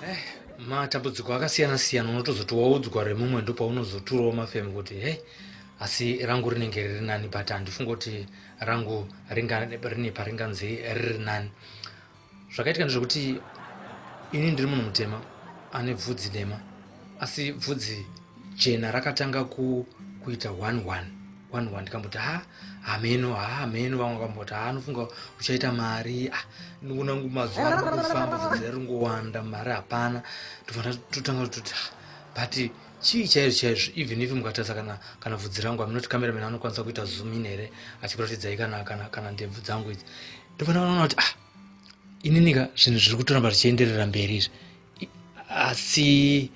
eh, matambudziko akasiyana siyana unotozoti waudzwa remumwe ndopaunozoturawo mafemu kuti hei asi rangu rinenge riri nani but handifunga kuti rangu rine paringanzi riri nani zvakaitika ndezvekuti ini ndiri munhu mutema ane bvudzi dema asi bvudzi jena rakatanga ku, kuita one one one one ndikamboti ha hameno ha hameno vamwe vakamboti ha anofunga uchaita mari ah, ndikunangu mazuva arikufamba bvudzi raringowanda mari hapana tofana totanga toti but chii chaizvo chaizvo even if mukatarisa kana kana bvudzi rangu aminoti cameraman anokwanisa kuita zoom in here achikuratidzayi kana, kana, kana ndebvu dzangu idzi ndopana vanoona kuti ah ininika zvinhu zviri kutoramba zvichienderera mberi izvi asi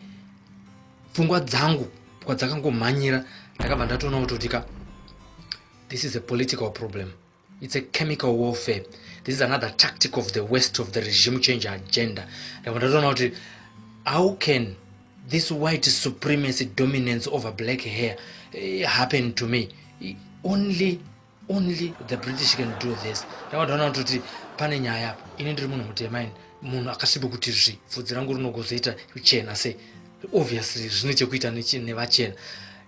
pfungwa dzangu kwadzakangomhanyira ndakabva ndatoona kutoti ka this is a political problem it's a chemical warfare this is another tactic of the west of the regime change agenda ndakabva ndatoona kuti how can this white supremacy dominance over black hair eh, happen to me only only the british can do this ndakatoona kutoti pane nyaya apa ini ndiri munhu mutema ini munhu akasvibe kuti zvi vhudzi rangu rinogozoita kuchena se obviously zvine chekuita nevachena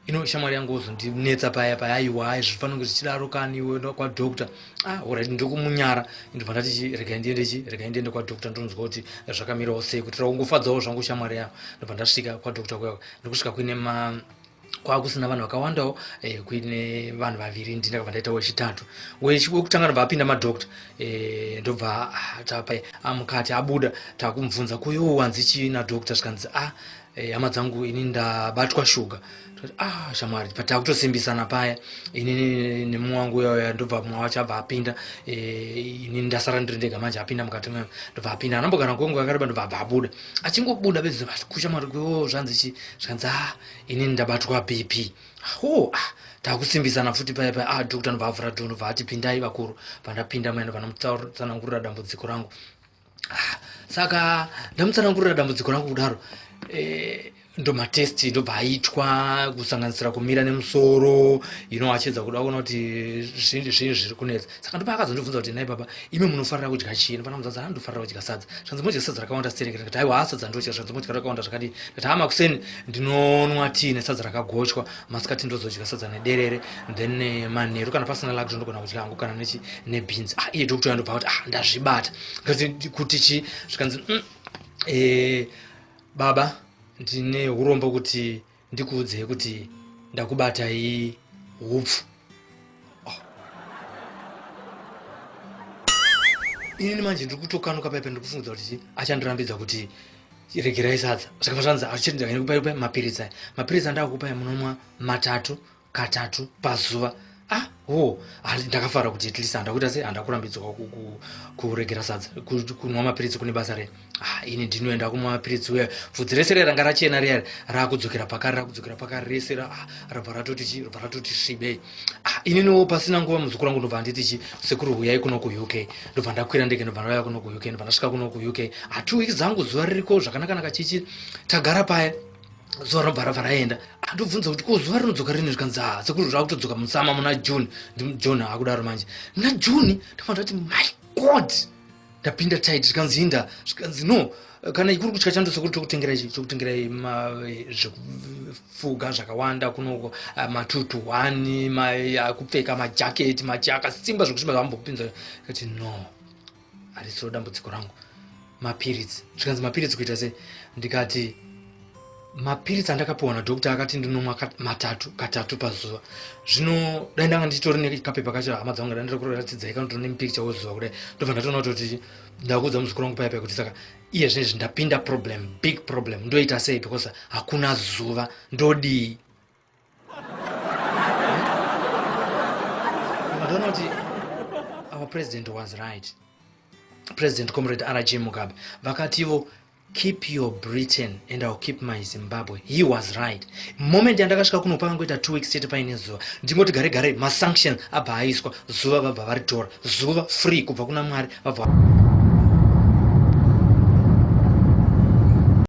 ino shamwari yangu ozondinetsa paya paya aiwa ai zvifanira kuti zvichidaro kani iwe kwadoctor ah orit ndokumunyara ndibva ndati regai ndiende chi regai ndiende kwadoctor ndonzwa kuti zvakamirawo sei kutira kungofadzawo zvangu shamwari yavo ndibva ndasvika kwadoctor kuya ndikusvika kuine ma kwakusina vanhu vakawandawo eh, kuine vanhu vaviri ndini ndakabva ndaita wechitatu wekutanga ndobva apinda madoctor eh, ndobva ah, tapa amukati ah, abuda takumubvunza kuyo wanzi chii nadoctor zvikanzi a ah, eh, hama dzangu ini ndabatwa shuga ah shamwari patakutosimbisana paya inini nemumwe wangu uyauya ndobva mumwe wacho abva apinda eh, ini ndasara ndiri ndega manje apinda mukati mwe ndobva apinda anambogara kwenguva yakareba ndobva abva abuda achingobuda bedzi kushamwari kwewo zvanzi chi zvanzi ah inini ndabatwa bp ho ah takusimbisana futi paya paya ah doctor anobva avhura door anobva ati pindai vakuru pandapinda maenda vanotsanangurira dambudziko rangu ah saka ndamutsanangurira dambudziko rangu kudaro eh, ndomatest ndobva aitwa kusanganisira kumira nemusoro ino achiedza kuda kuona kuti zvinhu zvinhu zviri kunetsa saka ndopa akazondibvunza kuti nai baba imi munofarira kudya chii ndofana muzanzi haa ndofarira kudya sadza zvanzi modya sadza rakawanda serekere ndikati haiwa haa sadza ndodya zvanzi modya rakawanda zvakadii ndikati haa makuseni ndinonwa tii nesadza rakagochwa masikati ndozodya sadza nederere then eh, manheru kana pasina lak zvondogona kudya hangu kana nechi nebhinzi ah iye doctor yandobva kuti ah ndazvibata kuti chii zvikanzi mm, eh, baba ndine urombo kuti ndikuudzei kuti ndakubatai hupfu oh. inini manje ndiri kutokanuka paipa ndiri kufungudza kuti chii achandirambidza kuti regerai sadza zvakava zvanzi achirindakupai mapiritsi aya mapiritsi andakukupai munonwa matatu katatu pazuva ah wo ndakafara kuti at least handakuita sei handakurambidzwa kuregera sadza kunwa mapiritsi kune basa rei ah ini ndinoenda kumwa mapiritsi uya pfudzi rese reranga rachena riya raakudzokera pakari raakudzokera pakari rese ah, rabva ratoti chi rabva ratoti svibei ah ininiwo pasina nguva muzukuru wangu ndobva handiti chi sekuru huyai kuno kuuk ndobva ndakwira ndege ndobva ndauya kuno kuuk ndobva ndasvika kuno kuuk ah two weeks dzangu zuva ririko zvakanakanaka chichi tagara paya zuva rabva rabva raenda andobvunza kuti ko zuva rinodzoka rini zvikanzi ha ah, sekuru zvava kutodzoka musama muna june ndijohn akudaro manje muna june ndafana ndati my god ndapinda tit zvikanzi inda zvikanzi no kana ikuri kutya chando sekuru tokutengera ichi tokutengerai zvekufuga zvakawanda kunoko ah, matutu one ah, kupfeka majaketi machi akasimba zvekuti mavambopinza kati no harisiro dambudziko rangu mapiritsi zvikanzi mapiritsi kuita sei ndikati mapiritsi andakapiwa nadokta akati ndinomwa matatu katatu pazuva zvino dai ndanga ndichitori nekapepa kacho hama dzangu dai ndiri kuratidzai kana tino nemipikicha wozuva kudai ndobva ndatoona kuti ndakuudza muzukuru wangu paya paya kuti saka iye zvinezvi ndapinda problem big problem ndoita sei because hakuna zuva ndodii vakaona kuti our president was right president comrade rg mugabe vakativo keep your britain and ill keep my zimbabwe he was right moment yandakasvika kuno pakangoita two weeks chete paine zuva ndingoti gare gare masanctions abva aiswa zuva vabva varitora zuva free kubva kuna mwari vabva